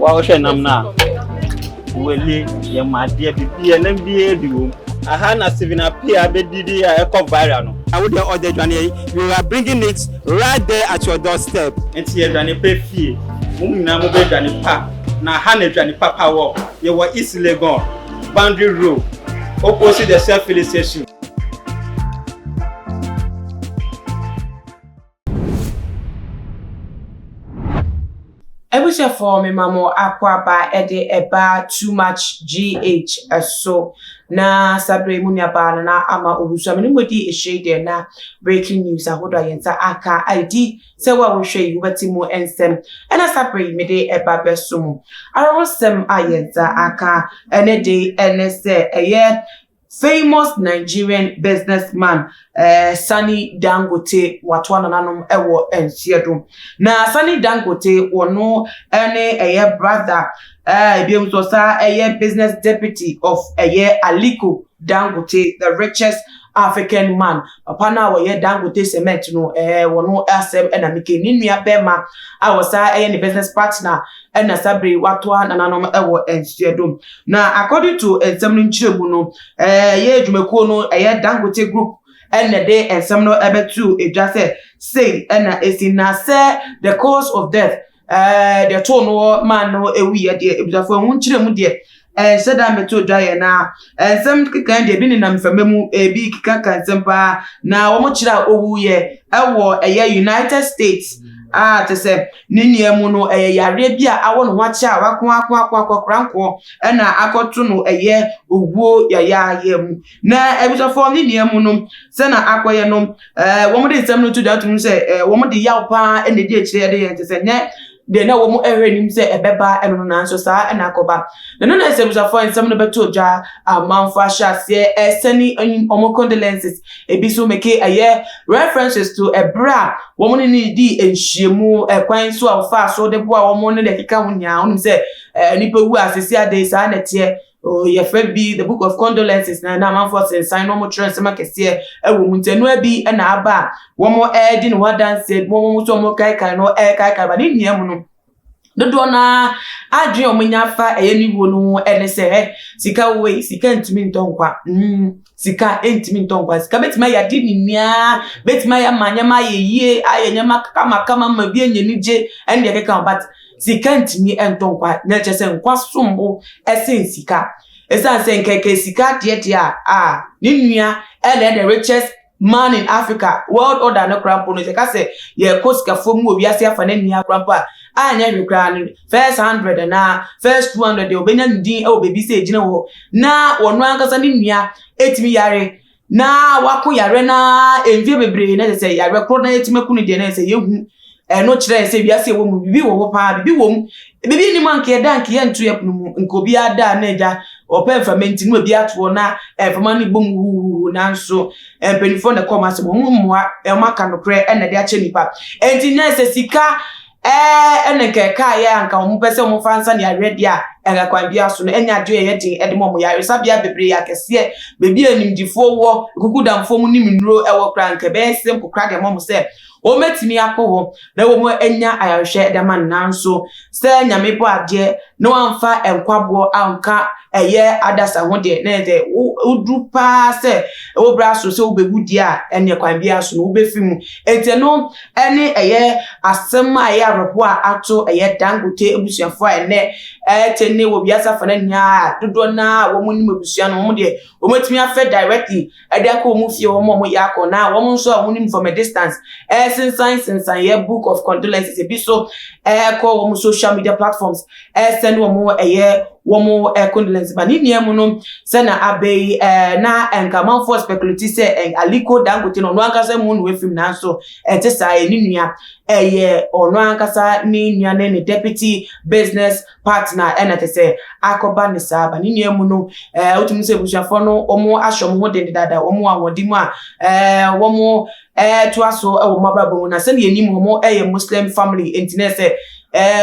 Wohwɛ nam no a, wele yɛ ma adeɛ bibia nam biara bi wom. Aha na Stephen Appiah bɛdidi a ɛkɔ viral no. Na wo deɛ ɔde adwaneɛ yi, you are bringing it right there at your door step. Nti yɛdwane pɛ fie, mo nyinaa mo bɛ dwane pa, na ha na adwane papa wɔ, yɛwɔ East Legon, Boundary Road, opposite the Shell Filling Station. Abusuafoɔ me ma mo akɔaba de ɛba too much GH so na saa berɛ yi mo nuabaa no na ama ɔwusu a me ne mo di ahyire deɛ na breaking news ahodoɔ a yɛn nsa aka a ɛdi sɛ wo a wohwɛ yi wobɛte mo nsɛm ɛna saa berɛ yi mede ɛba bɛso mo ara ho sɛm a yɛn nsa aka ɛne de ɛne sɛ ɛyɛ Famous Nigerian business man Sani Dangote watoa nananom wɔ nseɛ do. Na Sani Dangote wɔno ne ɛyɛ brother ɛbiom nso ɔsaa ɛyɛ business deputy of ɛyɛ Aliko Dangote the richest African man. Papa no a wɔyɛ Dangote cement no wɔno asɛm na mekɛ. Ne nua bɛɛma a wɔsaa ɛyɛ ne business partner ɛna saa bere yi watoa nananom wɔ nhyehyɛdom. Na according to nsɛm no nkyerɛmu no, ɛyɛ adwumakuo no ɛyɛ Dangote Group ɛna de nsɛm no ɛbɛto edwa sɛ sei ɛna esi na sɛ the cause of death ɛɛ deɛ too no maa no ewuiɛ deɛ abusuafoɔ ɛho nkyerɛmu deɛ Ɛnhyɛ da mmɛtɔ dwa yɛ na nsɛm nkekae deɛ ebi nenam mframa mu, ebi kekaka nsɛm paa, na wɔkyerɛ a ɔwuiɛ wɔ ɛyɛ United States a kyɛ sɛ ne nea mu no ɛyɛ yareɛ bi a awɔ ne ho akyɛ a wako ako ako ako akora nkoɔ ɛna akɔto no ɛyɛ owuo yayaayɛ mu. Na abusuafoɔ ne nea mu no sɛ na akɔyɛ no, wɔde nsɛm no to dwa tom sɛ wɔde yaw paa ɛna ɛdi akyire ɛde yɛ kyɛ sɛ nyɛ Deɛ na wɔn hwɛ nim sɛ ɛbɛba ɛno no nanso saa na akɔba. Na ɛno na nsɛmbusafoɔ a nsɛm no bɛtoo dwa a amanfoɔ ahyɛ aseɛ ɛresɛne wɔn condolences, ebi nso meke ɛyɛ references to ɛberɛ a wɔn ne no dii nhyiamu, ɛkwan nso a wɔfaa so de boaa wɔn ne deɛ ɛkeka ho nyinaa. Wonim sɛ nnipa wu a seesei adɛn saa na ɛteɛ Oh, yɛfrɛ bi the book of condolences na na amanfoɔ sensan na wɔkyerɛ nsɛm akɛseɛ ɛwɔ mu nti ɛnoa bi ɛna aba a wɔn ɛredi ne ho adanseɛ bi wɔn nso wɔn kaekae no ɛrekaekae ba ne nnua mu no dodoɔ no ara adwene a wɔnya fa ɛyɛ ne wuo no ho ɛne sɛ ɛ sika wei sika ntumi ntɔ nkwa mm sika ntumi ntɔ nkwa sika bɛtumi ayɛ ade nyinaa bɛtumi ayɛ ama nneɛma ayɛ yie ayɛ nneɛma kamakama ma bi anya anigye ɛne deɛ ɛkeka ho but Sika ntumi ntɔ nkwa, na ɛkyerɛ sɛ nkwa som bo sen sika. Esiane sɛ nkɛkɛ sika adeɛdeɛ a a ne nua Elder Richards maa no in Africa World Order no koraa mpo no, sɛ ɛka sɛ yɛkɔ sikafua mu wɔ wiase afa no nyinaa koraa mpo a, a ɛnyɛ hwee koraa no, first hundred anaa first two hundred deɛ obenya ne din wɔ baabi sɛ egyina wɔ hɔ, na ɔno ankasa ne nua tumi yare na wako yare no ara mfe bebree na sɛ yare koro na yɛtumi aku no deɛ na sɛ yɛhu ɛno kyerɛ sɛ wiase ɛwɔ mu bibi wɔ hɔ paa bibi wɔ mu bibi nnim a nka yɛda nka yɛnto yɛ pono mu nka obi ada na agya ɔpɛ mfama nti no obi atoɔ na mfama no bom huhuhu nanso mpanimfoɔ na ɛkɔm asɛm wɔn mmoa wɔn aka nokorɛ ɛna de akyɛ nipa ɛnti na sɛ sika Ɛɛ, ɛne nka ɛkaeɛ a anka wɔpɛ sɛ wɔfa nsa ne ayɛyɛdeɛ a ɛka kwan biara so no nyɛ adeɛ a ɛyɛ den de ma wɔn. Yaresabea bebree, akɛseɛ, baabi a animdefoɔ wɔ, nkukudamfoɔ mu nim nnuro wɔ koraa, anka ɛbɛyɛ simple koraa de ama wɔn sɛ wɔbɛtumi akɔ hɔ na wɔanya ayarehwɛ de ama no. Nanso, sɛ Nyame bɔ adeɛ na wamfa nkwaboɔ anka ɛyɛ adasa ho deɛ, na sɛ woduru paa sɛ wo bra so sɛ wobɛwu deɛ a, ɛneɛ kwan biara so no wobɛfiri mu. Enti ɛno. ɛne ɛyɛ asɛm a ɛyɛ awerɛhoɔ a ato ɛyɛ Dangote abusuafo a ɛnɛ ɛte ne wɔ wiase afa no nyinaa dodoɔ no a wɔn nim abusua no wɔn deɛ wɔatumi afɛ directly ɛde akɔ wɔn fie wɔn a wɔyɛ akɔ na wɔn nso a wɔn nim from a distance ɛsensan sensan yɛ book of condolences ebi so ɛkɔ wɔn social media platforms ɛsɛ na wɔn ɛyɛ wɔn ɛ condolence ba ne nua mu no sɛ na abɛ yi ɛ na nka amanfoɔ speculate sɛ ɛ Aliko Dangote no ɔno ankasa mu no afim nanso ɛte saa ɛ ne nua ɛyɛ ɔno ankasa ne nua ne ne deputy business partner ɛna te sɛ akɔba ne saa ba ne nua mu no ɛ wotumi sɛ abusuafoɔ no wɔn ahyɛ wɔn ho den dada wɔn ahoɔden mu a ɛ wɔn toa so wɔ wɔn abrabɔ mu na sɛdeɛ yɛnim wɔn yɛ muslim family nti na sɛ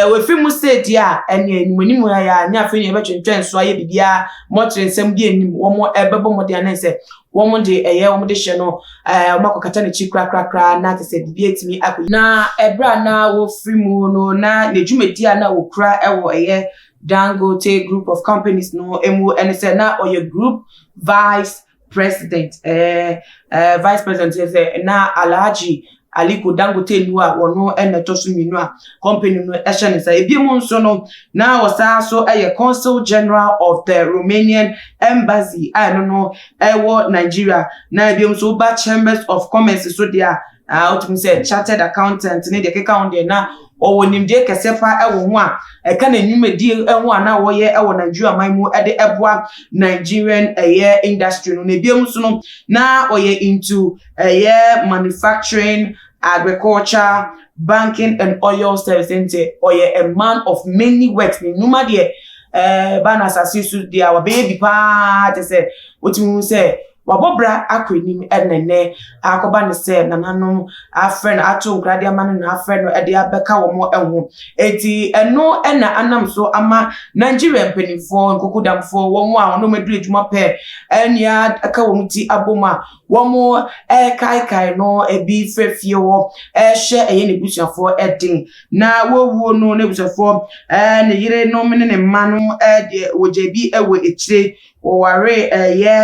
wɔfiri mu state a ɛne anim anim ha yɛ a ne afei ne yɛbɛtwentwɛn so ayɛ biribiara mɔkyerɛ nsɛm bi anim wɔn ɛbɛbɔ mmɔden anɛ sɛ wɔn de ɛyɛ wɔn de hyɛ no wɔn akɔkata n'akyi korakorakora na te sɛ biribi atumi akɔ na ɛberɛ a na wɔfiri mu no na ne dwumadi a na wɔkura ɛwɔ ɛyɛ Dangote group of companies no mu ɛne sɛ na ɔyɛ group vice President eh eh vice president yɛ sɛ na Alhaji Aliko Dangote nnu a wɔno na ɛtɔ so mmienu a company no ɛhyɛ ne nsa. Ebi mu nso no na ɔsan nso ɛyɛ Consul General of the Romanian Embassy a ɛno no ɛwɔ Nigeria na ebi mu nso woba Chambers of Commerce so deɛ a a wotumi sɛ chartered accountant ne deɛ keka ho deɛ na ɔwɔ nimdeɛ kɛseɛ paa ɛwɔ ho a ɛka na nnwumadie ɛho a na wɔyɛ ɛwɔ nigeria man mu ɛde ɛboa nigerian ɛyɛ industry no na ebi mu nso no na ɔyɛ into ɛyɛ manufacturing agriculture banking and oil service nti ɔyɛ a man of many works ne nnwuma deɛ ɛɛ ba na asase so deɛ a wɔbɛyɛ bi paa te sɛ wotumi hu sɛ Wabɔ bra akɔ anim na nnɛ akɔba no sɛ nananom afrɛ no ato nkra de ama no na afrɛ no de abɛka wɔn ho. Enti ɛno na anam so ama Nigeria mpanimfoɔ, nkokudamfoɔ, wɔn a wɔn aduru adwuma pɛ nea ɛka wɔn ti abom a wɔrekaekae no bi frɛ fie hɔ hyɛ ɛyɛ n'abusuafoɔ den. Na wɔwuo no, n'abusuafoɔ, ne yerenom ne ne mma no deɛ wɔgya bi wɔ akyire wɔwaree ɛyɛ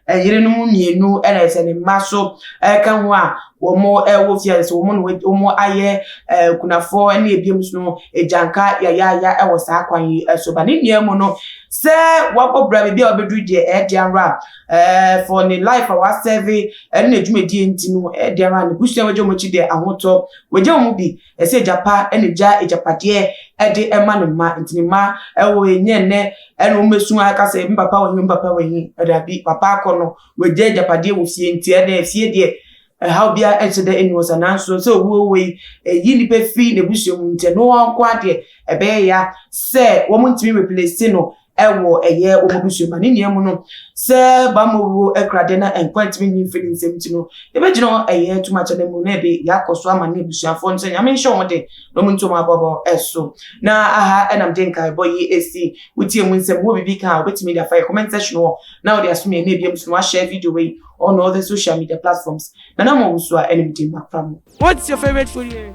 ɛyerenom mmienu ɛna ɛsɛ ne mma so ɛka ho a wɔn ɛwɔ fie ɛsɛ wɔn na wɔn ayɛ ɛɛ kunafoɔ ɛne ebiem so no egyanka yayaaya ɛwɔ saa kwan yi ɛso ba ne nyinaa mu no sɛ wabɔ bra biribi a ɔbɛduru deɛ ɛde ara ɛɛ for ne life a wasɛve ɛne n'adwumadie nti no ɛde ara ne busua wɔgya wɔn akyi deɛ ahotɔ wɔgya wɔn bi. Ɛsɛ agya pa na egya agyapadeɛ de ma ne mma. Nti ne mma wɔ ɛnyɛ nnɛ na wɔn bɛsu aka sɛ me papa wɔ he, me papa wɔ he. Daabi, papa akɔ no, wagya agyapadeɛ wɔ fie. Nti ɛnɛ fie deɛ, ɛhaw biara nhyɛ da nni hɔ saa. Nanso sɛ owuo wɔ yi, ɛyi nnipa firi n'abusua mu. Nti ɛno ara nko ara deɛ, ɛbɛyɛ ya sɛ wɔntumi replace no ɛwɔ ɛyɛ wɔn abusua ma ne nea mu no sɛ bamma owuo ɛkrade na nkwa ntumi nyi mfiri nsɛm nti no yɛbɛgyina ɛyɛ tuma kyɛ no mu na ɛde yɛakɔ so ama ne abusuafoɔ no sɛ nyame nhyɛ wɔn de na wɔn ntom abɔbɔ ɛso na aha ɛnam de nkaebɔ yi ɛsi wotie mu nsɛm wɔ biribi ka a wobɛtumi de afa yɛ comment section hɔ na wode asom yɛ ne ebia mu so no wahyɛ video wei on all the social media platforms na na mo wusu a ɛne mede makora mo What's your favorite food here?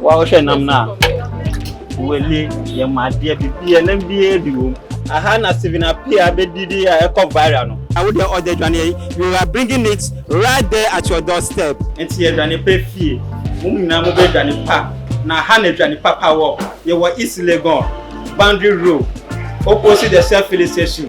Wohwɛ nam no a, wele yɛ ma adeɛ bibia nam biara bi wom. Aha na Steven Appiah bɛdidi a ɛkɔ viral no. Na wo deɛ ɔde adwane yi, you are bringing it right there at your door step. Nti yɛdwane pa fie, mo nyinaa mo bɛ dwane pa, na ha na adwane papa wɔ, yɛ wɔ East Legon, Boundary Road, opposite the Shell Filling Station.